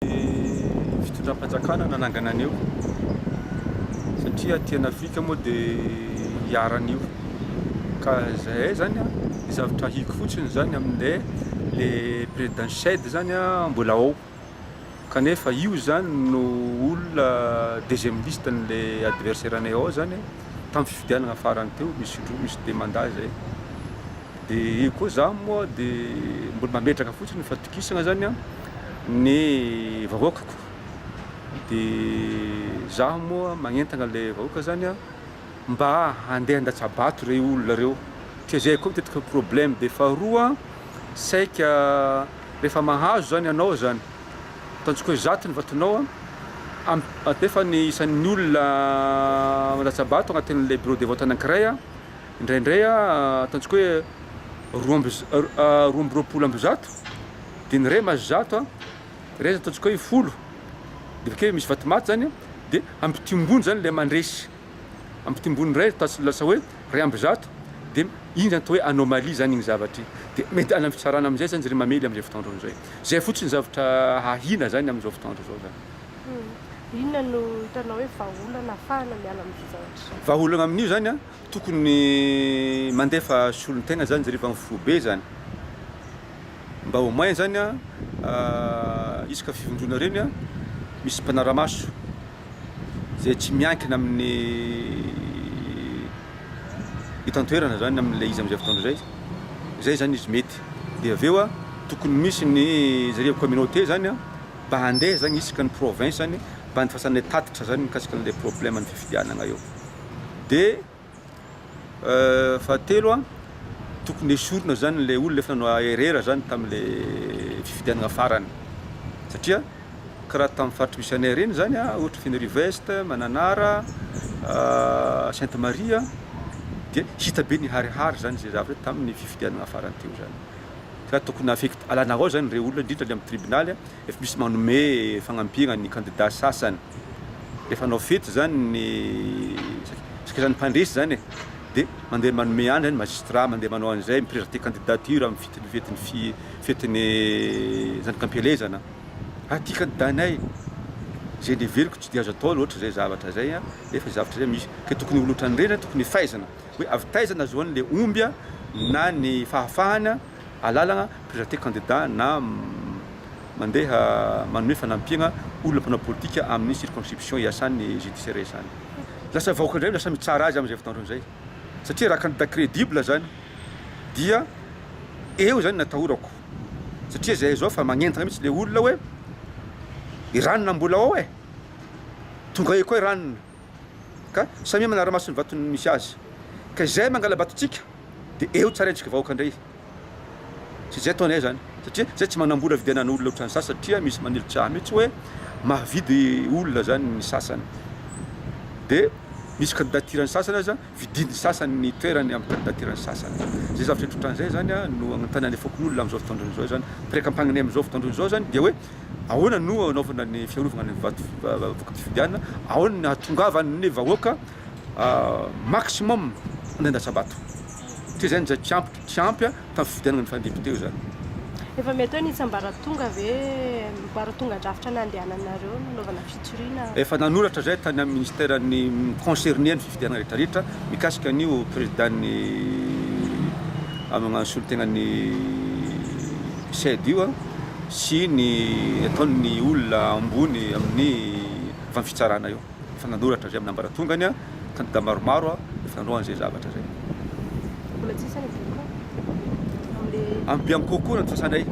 Ny fitondram-panjakana nanangana an'io satria aty an'Afrika moa dia iharan'io ka zahay zany a, ny zavatra ahiko fotsiny zany amin'ilay le président Chedd zany a mbola ao kanefa io zany no olona deuxième liste an'le adversaire anay ao zany a tamin'ny fifidianana farany teo misy indroa misy deux mandat zay. Dia io koa za moa dia mbola mametraka fotsiny fatokisana zany an ny vahoakako dia za moa magnentana le vahoaka zany an mba handeha handatsabato rey olona reo satria zay koa matetika ny problème dia faharoa an saika rehefa mahazo zany anao zany ataontsika hoe zato ny vatonao an am atefa ny isan'ny olona mandatsabato agnatin'ilay bureau de vote anankiray an Indraindray ataontsika hoe roa amby roa amby roapolo amby zato dia ny ray mahazo zato, ray zany ataontsika hoe folo dia avy akeo misy vato maty zany dia ampitimbony zany ilay mandresy, ampitimbony indray ataontsika lasa hoe ray amby zato dia iny zany atao hoe anomalie zany iny zavatra iny dia mety any amin'ny fitsarana amin'izay zany izy ireny mamely amin'izay fotoandro izay, izay fotsiny zavatra hahina zany amin'izao fotoandro izao zany. Inona no hitanao hoe vahaolana hahafahana miala amin'izay zavatra izay? Vahaolana amin'io zany an, tokony mandefa solontegna zany zare efa mifobe zany, mba au moins zany an isaka fivondrona reny an misy mpanaramaso zay tsy miankina amin'ny eto antoerana zany amin'ilay izy amin'izay fotoana izay, zay zany izy mety, de avy eo an tokony misy ny zare communauté zany an. mba handeha zany isaka ny province any mba anifasana tatitra zany mikasika anle probleme ny fifidianana eo de fahatelo a tokony esorina zany le olona efa noaherera zany tamle fifidianana farany satria ka raha tam faritry misy anay reny zany a ohatra fenerive est, mananara, sainte marie dia hita be niharihary zany ze zavatra taminy fifidianana farany teo zany Ka tokony afekty alanarao zany rey olona indrindra any am tribonaly a, efa misy manome fagnampiagna ny kandida sasany, efa hanao fety zany ny sakaizany mpandresy zany e, de mandeha manome any zany ny magistrat mandeha manao an'izay, mi presenter candidature am fitin'ny fetin'ny fi fetin'ny zanakampielezana, ah ty kandida nay, zay leveliko tsy de azo atao loatra zay zavatra zay a, nefa zay zavatra zay misy, ke tokony ho olo otran'ireny a tokony efaizina. Hoe avy taiza nahazoany le omby a, na ny fahafahana alalagna presenter candidat na mandeha manome fanampiagna olona mpanao politika amin'ny circonscription iasany judiciaire iasany. Lasa vahoaka indray no lasa mitsara azy amin'izay fotoandrony izay. Satria raha candidat credible zany dia eo zany natahorako. Satria zay zao fa magnentagna mitsy le olona hoe i ranona mbola ao e! Tonga eo koa i ranona. Ka samia manara-maso ny vatony misy azy. Ka izay mangala-batontsika dia eo tsarentsika vahoaka indray. Tsy izay ataonay izany. Satria izay tsy manambola vidianana olona ohatran'ny sasany satria misy manilitra ahy mihitsy hoe mahavidy olona izany ny sasany. Dia misy kandidatira ny sasany aza vidian'ny sasany ny toerany amin'ny kandidatiran'ny sasany. Izay zavatra indray ohatran'izay zany no agnontanan'ny fokonolona amin'izao fotoan-drony izao izany. Piraikampangnina amin'izao fotoan-drony izao izany dia hoe ahoana no anaovana ny fiarovana ny vato vokam-pifidianana, ahoana ny hahatongavan'ny vahoaka maximum nandatsa-bato. Satria izay no izay tsy ampy, tsy ampy an! Ka fifidianana ny fandepi-teo izany. Efa mety hoe nitsambaratonga ve, baratongan-drafitra nandehananareo nanaovana fitoriana? Efa nanoratra izay tany amin'ny ministeran'ny mi-concerner ny fifidianana rehetrarehetra mikasika an'io prezidan'ny magnano solontenan'ny CEDD io sy ny ataon'ny olona ambony amin'ny vanim-pitsarana io. Efa nanoratra avy amin'ny ambaratongany kandidà maromaro fandroahana izay zavatra izay. Mbola tsy samy voalohany amin'ilay. Amin'ny Bianco koa nandefasanay.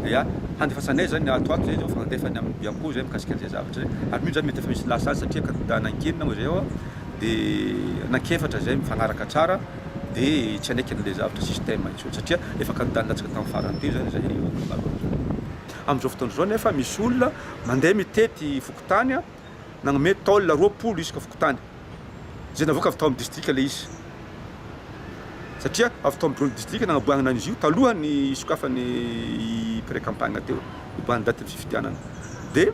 Ia, handefasanay izany ato ato izay izao fa nandefany amin'ny Bianco izay mikasika an'izay zavatra izay. Ary mino izany mety efa misy lasa azy satria kandidà anankinina moa izay ao dia anankefatra izay mifagnaraka tsara dia tsy hanaiky an'ilay zavatra système intsony satria efa kandidà nilatsaka tamin'ny farany teo izany izay eo amin'ny maro amin'izany. Amin'izao fotoana izao anefa misy olona mandeha mitety fokontany nanome taolina roapolo isaka fokontany izay navoaka avy tao amin'ny distrika ilay izy satria avy tao amin'ny distrika nanaboahana an'izy io talohan'ny hisokafany pré-campagne teo, hiboahan'ny datin'ny fifidianana dia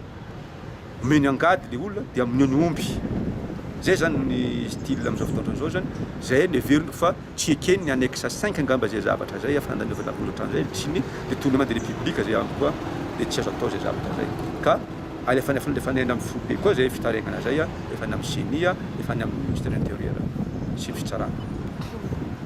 Omeny angady le olona dia mino ny omby. Zay zany ny style amzao fotoandro zao zany zay ny heveriko fa tsy ekeny ny annexe cinq angamba zay zavatra zay fa nanaovana akory otranzay le tsy ny le tony mandeha le public zay amiko a le tsy azo atao zay zavatra zay ka alefany efa any aminy foibe koa zay fitaregnana zay a efa any aminy ceni a efa any aminy ministère intérieur sy ny fitsarana.